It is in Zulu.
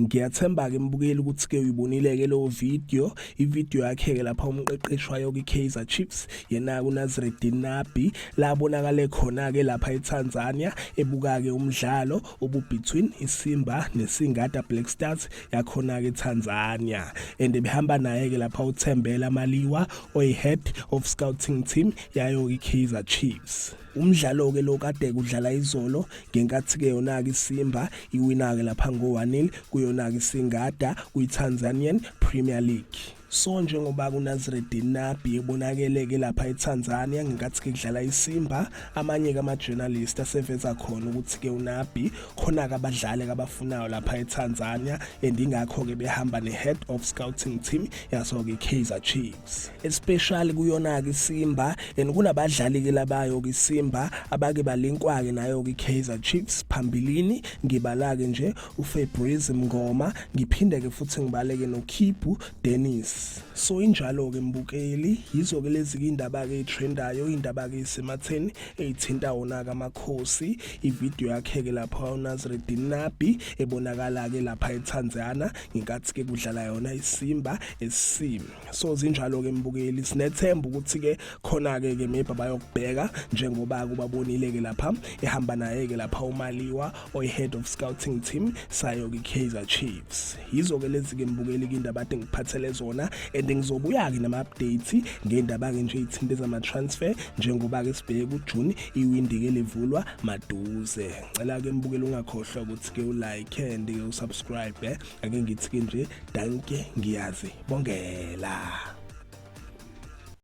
Ngiyathemba-ke mbukeli ukuthi-ke uyibonile-ke leyo video ivideo yakhe-ke lapha umqeqeshi wayo kwi-kaizer chiefs yena-ke unazireddin nabi la abonakale khona-ke lapha etanzania ebuka-ke umdlalo obubetween isimba nesingada black stars yakhona-ke etanzania and ebehamba naye-ke lapha uthembela maliwa oyi-head of scouting team yayo i-kaizer chiefs umdlalo ke lo kade kudlala izolo ngenkathi ke yona ke isimba iwina ke lapha ngo 1-0 kuyona ke singada kwi Tanzanian Premier League so njengoba kunaziredin nabi ebonakele ke lapha etanzania ngenkathi ke kudlala isimba amanye ke ama-journalist aseveza khona ukuthi ke unabi khona-ke abadlali kabafunayo lapha etanzania and ingakho-ke behamba ne-head of scouting team yaso-ke i-kaizer chief especially kuyona-ke isimba and kunabadlali-ke labayo-ke isimba abake balinkwa-ke nayo-ke i-kaizer chiefs phambilini ngibala-ke nje ufabrise mngoma ngiphinde-ke futhi ngibaleke nokhibhu dennis so injalo-ke mbukeli yizo-ke lezi-ke iy'ndaba-ke ey'threndayo iy'ndaba-ke ey'sematheni ey'thinta wona-ke amakhosi ividiyo yakhe-ke lapho unaziredini nabi ebonakala-ke lapha ethanzana ngenkathi ke kudlala yona isimba esim so zinjalo ke mbukeli sinethemba ukuthi ke khona ke ke maybe bayokubheka njengoba kubabonile ke lapha ehamba naye ke lapha umaliwa oyi head of scouting team sayo ke Kaizer Chiefs yizo ke lezi ke mbukeli ke indaba ade ngiphathele zona and ngizobuya ke nama updates ngendaba ke nje ithinte zama transfer njengoba ke sibheke ku June iwindi ke livulwa maduze ngicela ke mbukele ungakhohlwa ukuthi ke ulike and ke usubscribe eh? ake ngithi ke nje danke ngiyazi bongela